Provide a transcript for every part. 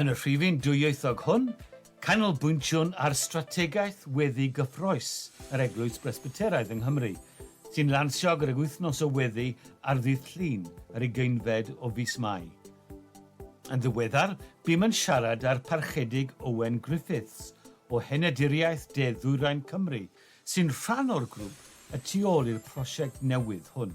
Yn y rhifyn dwyieithog hwn, canolbwyntiwn ar strategaeth weddi gyffrous yr Eglwys Bresbyteraidd yng Nghymru, sy'n lansio gydag Wythnos o Weddi ar ddydd Llun, yr ugeinfed o fis Mai. Yn ddiweddar, bûm yn siarad â'r Parchedig Owen Griffiths, o Henaduriaeth De Ddwyrain Cymru, sy'n rhan o'r grŵp y tu ôl i'r prosiect newydd hwn.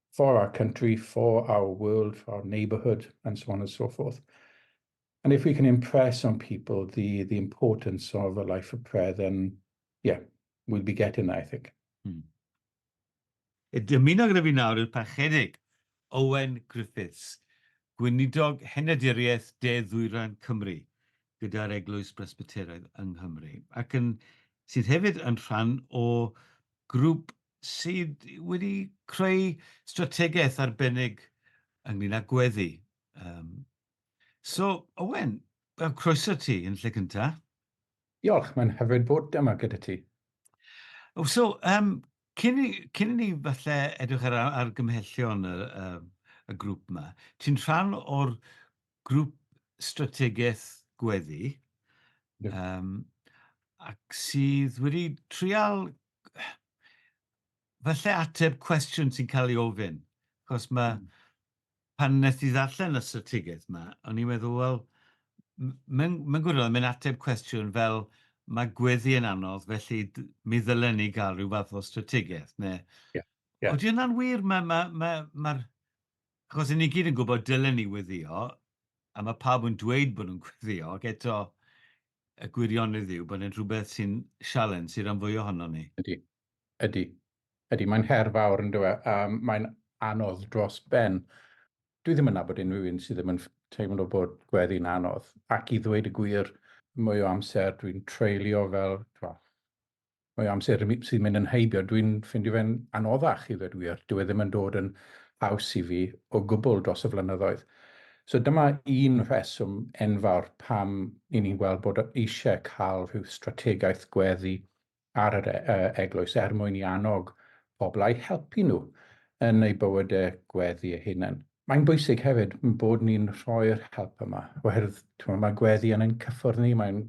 for our country, for our world, for our neighbourhood, and so on and so forth. And if we can impress on people the, the importance of a life of prayer, then yeah, we'll be getting there, I think. Hmm. Dymuno gyda fi nawr yw'r parchedig Owen Griffiths, gweinidog henaduriaeth De Ddwyran Cymru gyda'r Eglwys Bresbyteraidd yng Nghymru, ac yn, sydd hefyd yn rhan o grŵp sydd wedi creu strategaeth arbennig ynglyn â gweddi. Um, so, Owen, croeso ti yn lle cynta. Diolch, mae'n hyfryd bod yma gyda ti. Oh, so, um, cyn, i, cyn i ni falle edrych ar, ar gymhellion y, y, y grŵp yma, ti'n rhan o'r grŵp strategaeth gweddi, um, ac sydd wedi trial falle ateb cwestiwn sy'n cael ei ofyn, achos mae, mm. pan nes i ddarllen y strategaeth yma, o'n i'n meddwl, wel, mae'n ma gwirionedd, mae'n ateb cwestiwn fel mae gweddi yn anodd, felly mi ddylen ni gael rhyw fath o strategaeth. Neu... Yeah. Yeah. Oeddi yna'n wir, mae... Ma, ma, ma, achos ni gyd yn gwybod dylen ni weddio, a mae pawb yn dweud bod nhw'n gweddio, ac eto, y gwirionedd yw bod e'n rhywbeth sy'n sialens i'r rhan fwyaf ohonon ni. Ydy, ydy. Ydy, mae'n her fawr yn dywe, a mae'n anodd dros ben. Dwi ddim yn nabod unrhyw un sydd ddim yn teimlo bod gweddi'n anodd, ac i ddweud y gwir, mwy o amser dwi'n treulio fel, Mae amser sy'n mynd yn heibio, dwi'n ffindio fe'n anoddach i ddweud wir, dyw e ddim yn dod yn haws i fi o gwbl dros y flynyddoedd. So dyma un rheswm enfawr pam i ni'n gweld bod eisiau cael rhyw strategaeth gweddi ar yr e- e- eglwys er mwyn i annog pobl a'i helpu nhw yn eu bywydau gweddi eu hunain. Mae'n bwysig hefyd bod ni'n rhoi'r help yma, oherwydd timo, mae gweddi yn ein cyffwrdd ni, mae'n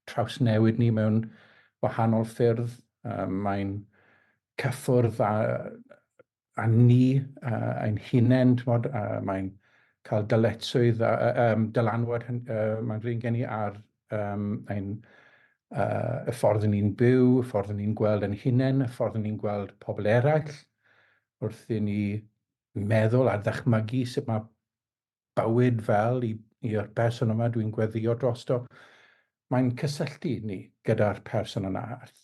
trawsnewid ni mewn wahanol ffyrdd, um, mae'n cyffwrdd â, â ni uh, ein hunain, tmod, uh, mae'n cael dyletswydd, a, uh, um, dylanwad uh, mae'n rhywun gen i ar um, ein uh, y ffordd yn ni'n byw, y ffordd yn ni'n gweld yn hunain, y ffordd yn ni'n gweld pobl eraill, wrth i ni meddwl a dychmygu sut mae bywyd fel i, i'r person yma dwi'n gweddio drosto, mae'n cysylltu ni gyda'r person yna.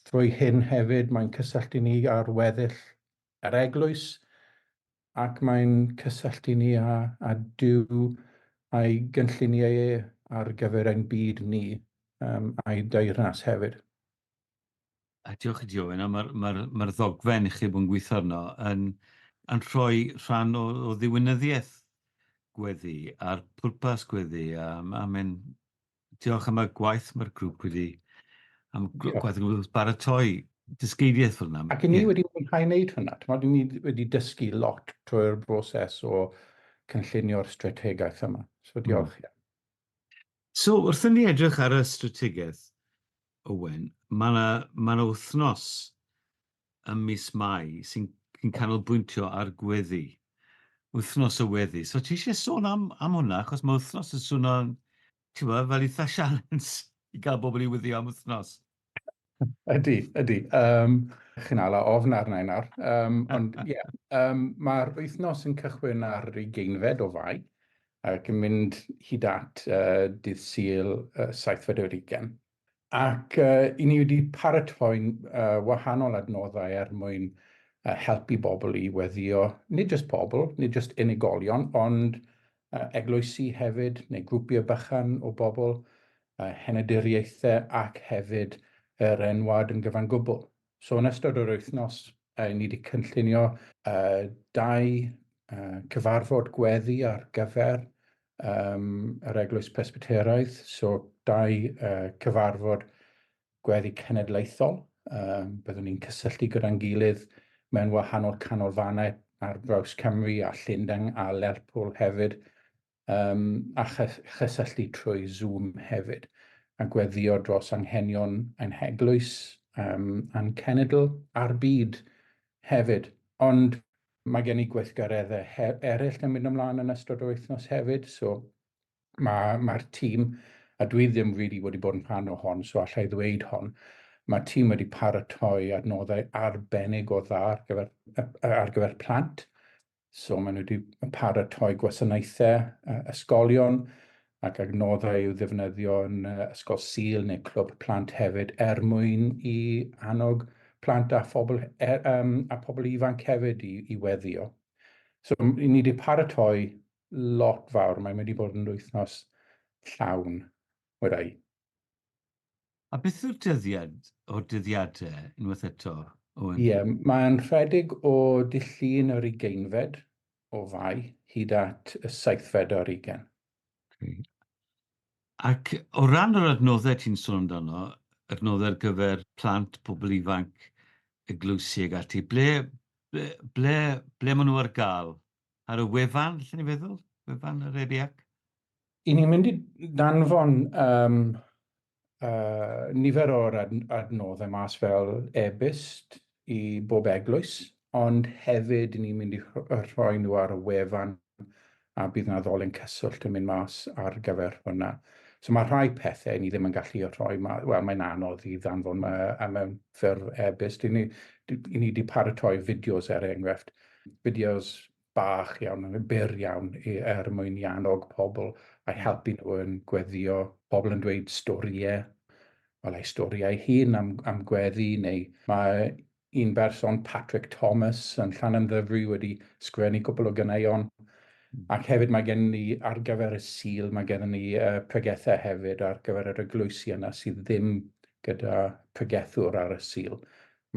Trwy hyn hefyd, mae'n cysylltu ni â'r weddill yr eglwys, ac mae'n cysylltu ni â, â Dyw a'i gynlluniau e ar gyfer ein byd ni um, a'i deyrnas hefyd. A diolch i ti Owen, a mae'r ma ma ddogfen i chi bod yn gweithio arno yn, yn rhoi rhan o, o ddiwinyddiaeth gweddi a'r pwrpas gweddi. A, a mae'n diolch am y gwaith mae'r grŵp wedi am gwaith yn baratoi dysgeidiaeth fel yna. Ac i ni yeah. wedi mwynhau wneud hwnna. Tymod, i ni wedi dysgu lot trwy'r broses o cynllunio'r strategaeth yma. So hmm. diolch. Mm. So, wrth i ni edrych ar y strategaeth, Owen, mae yna ma wythnos ym mis Mai sy'n sy canolbwyntio ar gweddi, wythnos y weddi. So, ti eisiau sôn am, am hwnna, achos mae wythnos yn swnio'n, ti'n fel eitha' sialens i gael bobl i weddio am wythnos. Ydy, ydy. Um, chi'n ala ofn arna i nawr. Um, ond ie, yeah, um, mae'r wythnos yn cychwyn ar ei geinfed o fai ac yn mynd hyd at uh, dydd syl uh, 7 Federigen. Ac uh, i ni wedi paratoi uh, wahanol adnoddau er mwyn uh, helpu bobl i weddio, nid jyst pobl, nid jyst unigolion, ond uh, eglwysi hefyd, neu grwpiau bychan o bobl, henaduriaethau ac hefyd yr enwad yn gyfan gwbl. So yn ystod yr wythnos, uh, ni wedi cynllunio uh, dau uh, cyfarfod gweddi ar gyfer um, yr Eglwys Presbyteraidd, so dau uh, cyfarfod gweddi cenedlaethol. Um, byddwn ni'n cysylltu gyda'n gilydd mewn wahanol canolfannau ar draws Cymru a Llundain a Lerpwl hefyd um, a chysylltu trwy Zoom hefyd, a gweddio dros anghenion ein heglwys um, a'n cenedl a'r byd hefyd. Ond mae gen i gweithgareddau eraill yn mynd ymlaen yn ystod o wythnos hefyd, so mae'r ma tîm, a dwi ddim rili really wedi bod yn rhan o hon, so allai ddweud hon, mae tîm wedi paratoi adnoddau arbennig o dda ar gyfer, ar gyfer plant, So maen nhw wedi paratoi gwasanaethau uh, ysgolion ac adnoddau i'w ddefnyddio yn uh, ysgol sil neu clwb plant hefyd er mwyn i annog plant a phobl, er, um, a phobl ifanc hefyd i, i weddio. So ni wedi paratoi lot fawr, mae'n wedi bod yn wythnos llawn, wedau. A beth yw'r dyddiad o'r dyddiadau, unwaith eto, Owen? Ie, mae'n rhedeg o dydd Llun yr ugeinfed o Fai hyd at y seithfed ar ugain. Okay. Ac o ran yr adnoddau ti'n sôn amdano, adnoddau ar gyfer plant, pobl ifanc, eglwysi ag ati, ble, ble, ble, ble maen nhw ar gael? Ar y wefan, lle ni'n feddwl? Wefan yr EBAC? I ni'n mynd i danfon um, uh, nifer o'r ad adnoddau mas fel e-byst i bob eglwys, ond hefyd ni'n mynd i rhoi nhw ar y wefan a bydd yna ddolen cyswllt yn mynd mas ar gyfer hwnna. So mae rhai pethau ni ddim yn gallu rhoi, wel mae'n anodd i ddanfon uh, mewn ffurf e-byst. I ni, i ni wedi paratoi fideos er enghraifft, fideos bach iawn, yn byr iawn, er mwyn i annog pobl a'i helpu nhw yn gweddio, pobl yn dweud storïau, wel ei storïau hun am, am gweddi, neu mae un berson, Patrick Thomas, yn Llanymddyfri wedi sgwennu cwpl o ganeuon, ac hefyd mae gen ni ar gyfer y Sul, mae gen ni uh, pregethau hefyd ar gyfer yr eglwysi yna sydd ddim gyda pregethwr ar y Sul.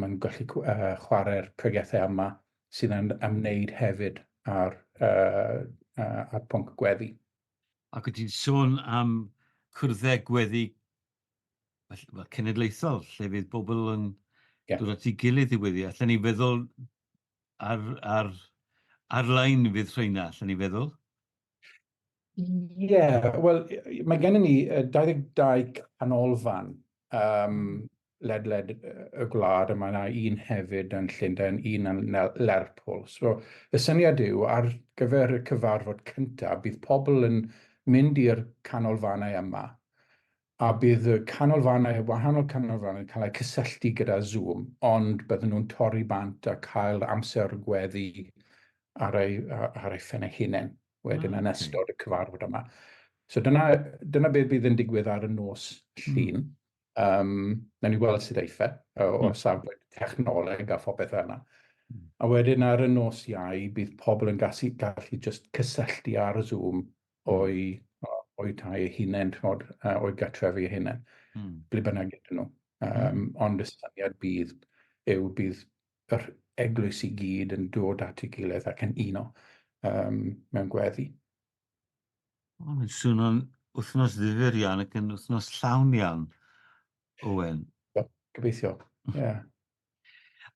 Mae'n gallu uh, chwarae'r pregethau yma sy'n ymwneud hefyd â'r pwnc gweddi. Ac wyt ti'n sôn am cyrddau gweddi cenedlaethol, lle fydd pobl yn dod at ei gilydd i weddi. Allen ni feddwl ar-lein fydd rheina, allen ni feddwl? Ie, yeah, wel, mae gennym ni 22 canolfan um, ledled y gwlad, a mae yna un hefyd yn Llundain, un yn Lerpwl. So, y syniad yw, ar gyfer y cyfarfod cyntaf, bydd pobl yn mynd i'r canolfannau yma, a bydd y canolfannau, y wahanol canolfannau, cael eu cysylltu gyda Zoom, ond bydden nhw'n torri bant a cael amser gweddi ar ei, ar ei ffen ei hunain. wedyn yn ystod y cyfarfod yma. So dyna, dyna beth bydd yn digwydd ar y nos llun. Mm. Um, na ni weld sydd eitha o, o hmm. safbwynt technoleg a phopeth fel yna. Hmm. A wedyn ar y nos iau, bydd pobl yn gallu, gallu just cysylltu ar y Zoom hmm. o'i, o'i tai ei hunain, o'i gatrefi ei hunain, mm. ble bynnag iddyn nhw. Um, mm. Ond y syniad bydd yw bydd yr eglwys i gyd yn dod at ei gilydd ac yn uno um, mewn gweddi. Mae'n swnio'n wythnos ddifur iawn ac yn wythnos llawn iawn, Owen. Gobeithio, ie. Yeah.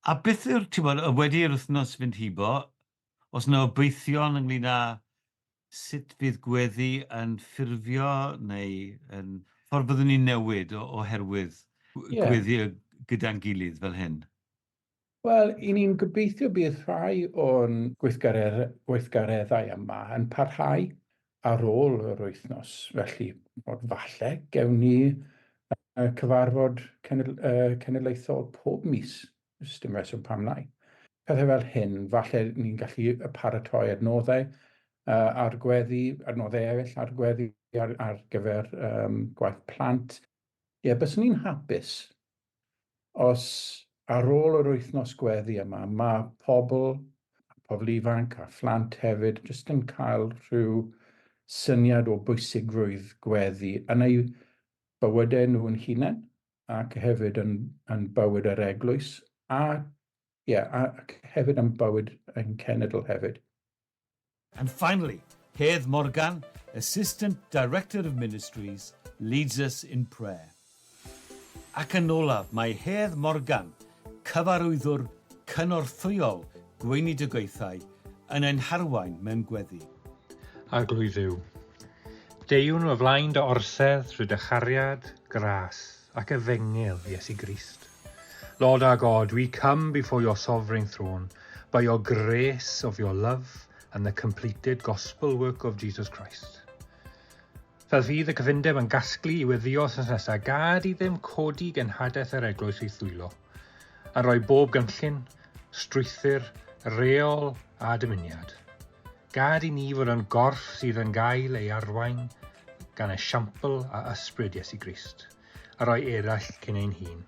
A beth yw'r, ti'n bod, wedi'r wythnos fynd hibo, Oes 'na obeithion ynglŷn â sut fydd gweddi yn ffurfio neu yn ffordd byddwn ni'n newid oherwydd gweddi gyda'n gilydd fel hyn? Wel, i ni'n gobeithio bydd rhai o'n gweithgareddau yma yn parhau ar ôl yr wythnos, felly falle gewn ni cyfarfod cenedlaethol pob mis Does dim rheswm pam lai. Pethau fel hyn, falle ni'n gallu paratoi adnoddau uh, ar gweddi, adnoddau eraill ar gweddi ar, ar gyfer um, gwaith plant. Ie, yeah, byswn i'n hapus os ar ôl yr wythnos gweddi yma, mae pobl, pobl ifanc a phlant hefyd, jyst yn cael rhyw syniad o bwysigrwydd gweddi yn ei bywydau nhw'n hunain, ac hefyd yn, yn bywyd yr eglwys, a, ie, yeah, ac hefyd yn bywyd ein cenedl hefyd. And finally, Hedd Morgan, Assistant Director of Ministries, leads us in prayer. Ac yn olaf, mae Hedd Morgan Cyfarwyddwr cynorthwyol gweinidogaethau yn ein harwain mewn gweddi. Arglwydd yw. Deuwn o flaen dy orsedd rhy dy chariad, gras, ac efengyl, Iesu Grist. Lord our God, we come before your sovereign throne by your grace of your love and the completed gospel work of Jesus Christ. Fel fydd y cyfundeb yn gasglu i weddio wrthnos nesaf, gad i ddim codi genhadaeth yr eglwys i thwylo, a rhoi bob gynllun, strwythyr, reol a dymuniad. Gad i ni fod yn gorff sydd yn gael ei arwain gan esiampl a ysbryd Iesu Grist, a rhoi eraill cyn ein hun.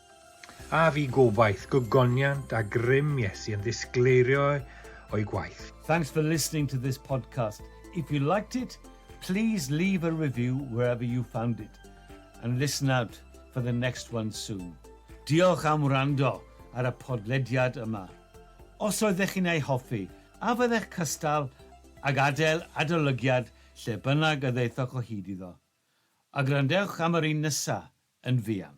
A fi gobaith gogoniant a grym Iesu yn ddisgleirio o'i gwaith. Thanks for listening to this podcast. If you liked it, please leave a review wherever you found it and listen out for the next one soon. Diolch am wrando ar y podlediad yma. Os oeddech chi'n ei hoffi, a fyddech cystal ag adael adolygiad lle bynnag y ddaethoch o hyd iddo? A gwrandewch am yr un nesa, yn fuan.